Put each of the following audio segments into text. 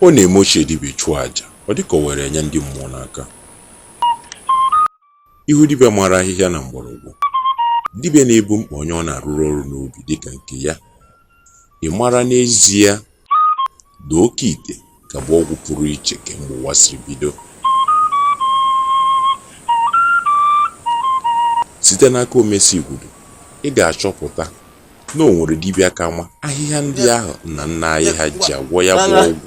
ọ na-eme ochie dibịa chụọ aja ọ dịka o were enye ndị mmụọ n'aka ị hụ dibịa mara ahịhịa na mgbọrọgwụ dibịa na-ebu mkpa onye ọ na-arụrụ ọrụ n'obi dịka nke ya Ị mara n'ezie na oke ite ka bụ ọgwụ pụrụ iche kemgbe ụwa siri bido? Site n'aka Omesi Igwudu, ị ga-achọpụta na o nwere dibịa ka ma ahịhịa ndị ahụ nna nna anyị ha ji agwọ ya bụ ọgwụ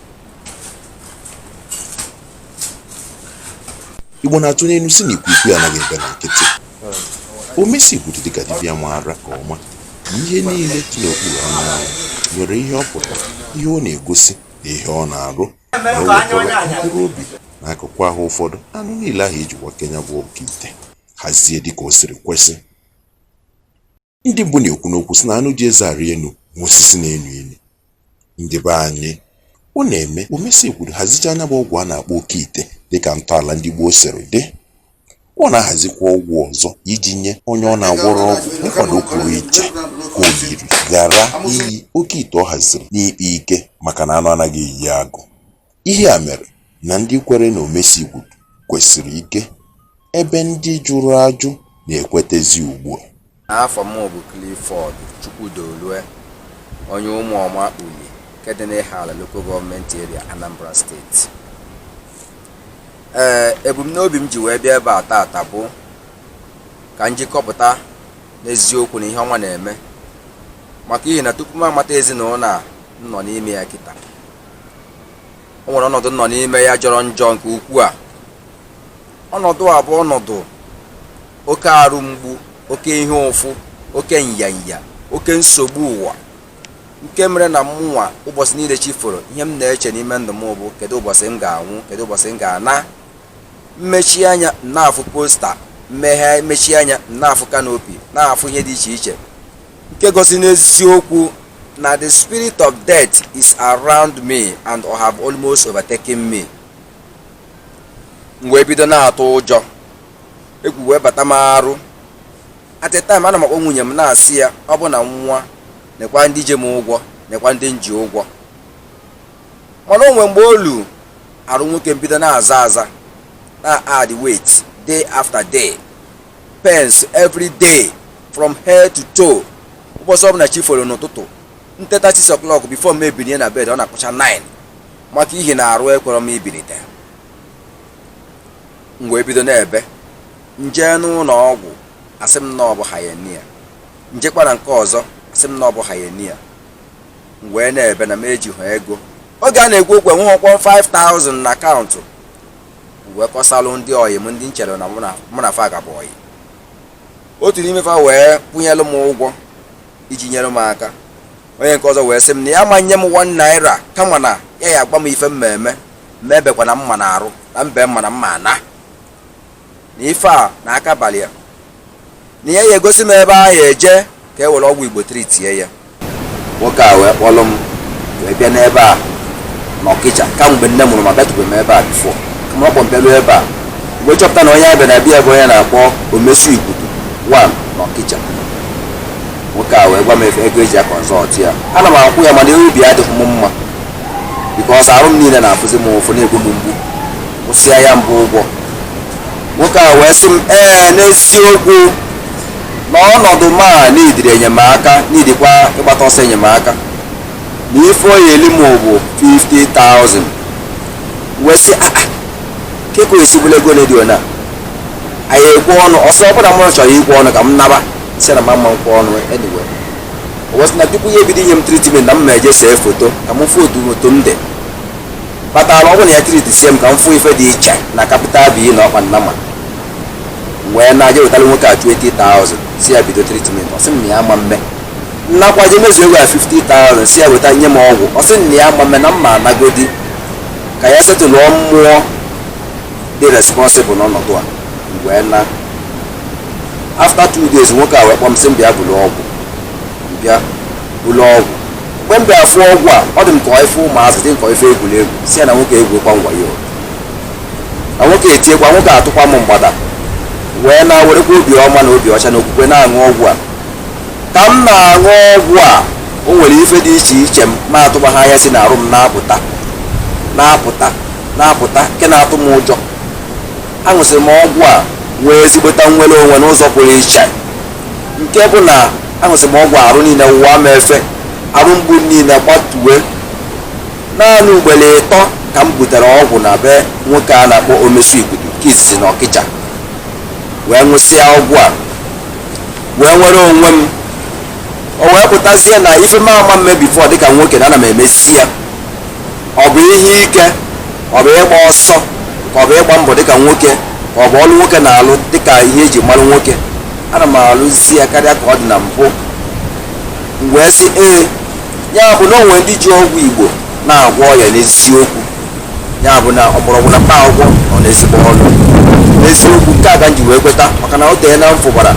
igbo na-atụ n'ilu sị na ikwukwu anaghị ebe na nkịtị omesi igwudu dịka dibịa maara ka ọma na ihe niile dị n'okpuru anyanwụ nwere ihe ọ pụtara ihe ọ na-egosi na ihe ọ na-arụ na o wekọrọ mkpụrụ obi na akụkụ ahụ ụfọdụ n'anụ niile ahụ iji wake nya bụ oke ite hazie dịka o siri kwesị Ndị Igbo na-ekwu n'okwu sị na anụ ji eze arị enu ma osisi na-enu inu. Ndị be anyị, ọ na-eme Omesi Igwudu hazichaa nya bụ ọgwụ a na-akpọ oke ite dịka ntọala ndị gboo siri dị. Ọ na-ahazikwa ọgwụ ọzọ iji nye onye ọ na-agwọrọ ọgwụ nkwado pụrụ iche ka oyiri ghara iyi oke ite ọ haziri n'ikpe ike maka na anụ anaghị eyi agụ. Ihe a mere na ndị kwere na Omesi Igwudu kwesiri ike ebe ndị jụrụ ajụ na-ekwetezi ugbua. Afa m bụ Clifford Chukwudolue, onye Ụmụọma Uli nke dị n'Ihiala Local Government Area, Anambra Steeti. Ee, ebumnobi m ji wee bịa ebe a taata bụ ka m ji kọpụta n'eziokwu na ihe ọma na-eme maka ihi na tupu m amata ezinụlọ a m nọ n'ime ya kịta o nwere ọnọdụ m nọ n'ime ya jọrọ njọ nke ukwuu a ọnọdụ a bụ ọnọdụ oke arụ mgbu oke ihe ụfụ oke nyanya oke nsogbu ụwa nke mere na mụnwa ụbọsị niile chi foro ihe m na-eche n'ime ndụ m bụ kedu ụbọsị m ga-anwụ kedu ụbọsị m ga-ana m mechie anya m na-afụ posta m meghe m mechie anya m na-afụ kanopi na-afụ ihe dị iche iche nke gosi n'eziokwu na the spirit of death is around me and have almost overtaken me m wee bido na-atụ ụjọ egwu wee bata m arụ at a time a na m akpọ nwunye m na-asị ya ọ bụ na m nwụọ nekwa ndị ji m ụgwọ nekwa ndị m ji ụgwọ mana o nwe mgbe o lu arụ nwoke m bido na-aza aza na-add weight day after day pains every day from head to toe ụbọchị ọbụla chi foro n'ụtụtụ nteta 6 o'clock before m ebinie na bed ọ na-akụcha 9 maka ihi na arụ ekwerọ m ibinite m wee bido na-ebe nje n'ụlọ ọgwụ asị m na ọ bụ hernia njekwa na nke ọzọ asị m na ọ bụ hernia m wee na-ebe na m ejighị ego oge a na-ekwu okwu enwehọkwọ m 5000 na akaụntụ wee kọsalụ ndị ọyị m ndị nchere na mụ na fa ga-abụ ọyị otu n'ime fa wee kwụnyelụ m ụgwọ iji nyere m aka onye nke ọzọ wee sị m na ya ama nye m one naira kama na ya ya agwa m ife m me eme m ebekwana mma na arụ na m bee mma na m ma ana na ife a na aka balị ya na ya ya egosi m ebe a ya eje ka e were ọgwụ igbo treatie ya nwoke a wee kpọrọ m wee bịa n'ebe a n'ọkịja kamgbe nne mụrụ m abịatụbeghị m ebe a before kama ọ kpọ m bịaruo ebe a m wee chọpụta na onye a bịa na be ya bụ onye na-akpọ omesu igudu one n'ọkịja nwoke a wee gwa m ego eji ya consult ya ana m akwụ ya mana obi adịghị m mma because arụ m niile na-afụzi m ụfụ na-egbu m mgbu kwụsịa ya bụ ụgwọ nwoke a wee sị m ee n'eziokwu na ọnọdụ m a needịrị enyemaka needikwa ịgbata ọsọ enyemaka na ife ọ ya eli m bụ 50,000 wee sị aa kekọ esigbula ego na dio na anyị ekwe ọnụ ọ sị ọ bụrụ na mụ chọrọ ikwe ọnụ ka m naba sị na m ama nkwe ọnụ anyway wee sị na before ya ebido inye m treatment na m ma eje see foto ka m fụ otu m otu m dị kpatara ọ bụ na ya treatisie m ka m fụ ife dị iche na capital b na ọkpa nnama wee naa je wetara nwoke a 20,000 sị ya bido treatment ọ sị m na ya ama mme m nakwa je mezuo ego ya 50,000 sị ya weta nye m ọgwụ ọ sị m na ya ama mme na m ma anagodi ka ya settlụọ mmụọ dị responsible n'ọnọdụ a wee na after two days nwoke a wee kpọọ m sị m bịa buru ọgwụ bịa buru ọgwụ mgbe m bịara fụọ ọgwụ a ọ dị m ka ọ ife ụmụazị dị m ka ọ ife egwuregwu sị ya na nwoke egwuekwa m wayo na nwoke etiekwa nwoke atụkwa m mgbada wee na-werekwa obi ọma na obi ọcha na okwukwe na-aṅụ ọgwụ a ka m na-aṅụ ọgwụ a o nwere ife dị iche iche m ma atụba ha anya si na arụ m na-apụta na-apụta na-apụta nke na-atụ m ụjọ aṅụsịrị m ọgwụ a nwee ezigbota nnwere onwe n'ụzọ pụrụ iche nke bụ na aṅụsị m ọgwụ a arụ niile wụwa m efe arụ mgbu niile gbatue naanị ugboro ịtọ ka m butere ọgwụ na be nwoke a na-akpọ omesu igudu nke izizi na ọkịja wee ṅụsịa ọgwụ a wee nwere onwe m o wee pụtazie na ife m ama mme before dịka nwoke na ana m emezi ya ọ bụ ihe ike ọ bụ ịgba ọsọ ka ọ bụ ịgba mbọ dịka nwoke ka ọ bụ ọlụ nwoke na-alụ dịka ihe eji mara nwoke ana m alụzi ya karịa ka ọ dị na mbụ m wee sị ee ya bụ na o nwe ndị ji ọgwụ igbo na-agwọ ọya n'eziokwu ya bụ na mgbọrọgwụ na mkpa akwụkwọ nọ n'ezigbo ọrụ n'eziokwu nke a ka m ji wee kweta maka na o tee na m fụbara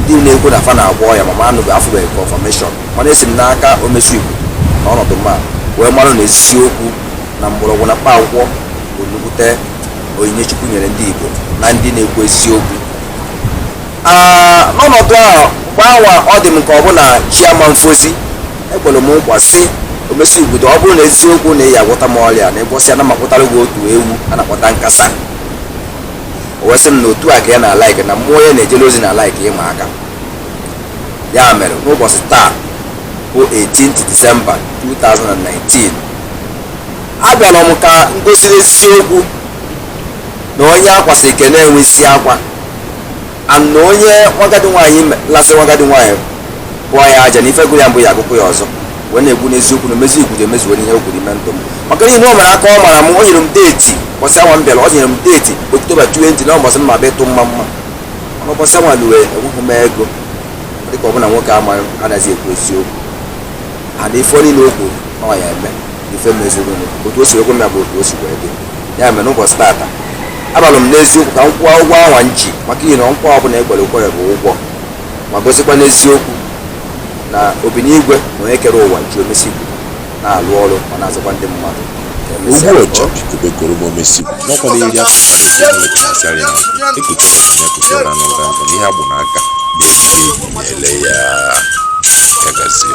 ndị na-ekwu na fa na-agwọ ọya mana m afụbeghị confirmation mana esi m n'aka omesi igudo na ọnọdụ mma wee mara na ezisi okwu na mgbọrọgwụ na mkpa akwụkwọ bụ nnukwute onyinye chukwu nyere ndị igbo na ndị na-ekwu eziokwu n'ọnọdụ ahụ mgbe anwa ọ dị m ka ọ bụ na chi ama efozi ekwere m nkwa sị omesi igudo ọ bụrụ na eziokwu na ị ya agwọta m ọrịa na ụbọsị anwa m akpụtara gị otu ewu a na-akpọta nkasa o wee sị m na otu a ka ya na-alike na mmụọ ya na-ejere ozi na-alike ịma aka ya mere n'ụbọsị taa bụ 18th December 2019 abịara m ka m gosiri eziokwu na onye akwasị ike na-enwe isi akwa and na onye nwagadi nwaanyị me- lasị nwagadi nwaanyị bụọ ya aja na ife gụrụ ya mbụ ya agụkwa ya ọzọ wee na-ekwu n'eziokwu na omesi igudo emezuwo ihe o kwuru ime ndụ m maka ihi na o mere aka ọ mara m o nyere m deeti ụbọsị anwa m bịara ọ nyere m deeti oktoba 20 na ụbọsị m ya-abịa ịtụ mma mma n'ụbọsị anwa luwe enweghị m ego dịka ọ bụ na nwoke amaghị anaghị ekwu eziokwu and ife niile o kwuru ọ ya eme ife mezuru otu o si ekwe m ya bụ otu o si wee dị ya mere n'ụbọsị tata abịalụ m n'eziokwu ka m kwụọ ụgwọ anwa m ji maka ihi na nkwa ọbụla ekwere ekwere bụ ụgwọ ma gosikwa n'eziokwu na obinigwe na onye kere ụwa ji omesi na-alụ ọrụ ma na-azụkwa ndị mmadụ Ogbu ọja bikube koro ma omesi n'ọkwa na iri afọ mmadụ nke ndị otu asịarị na ekutara na ya kụtara na ụra nkụ n'ihe agbụ na aka na-ele ya ya gazie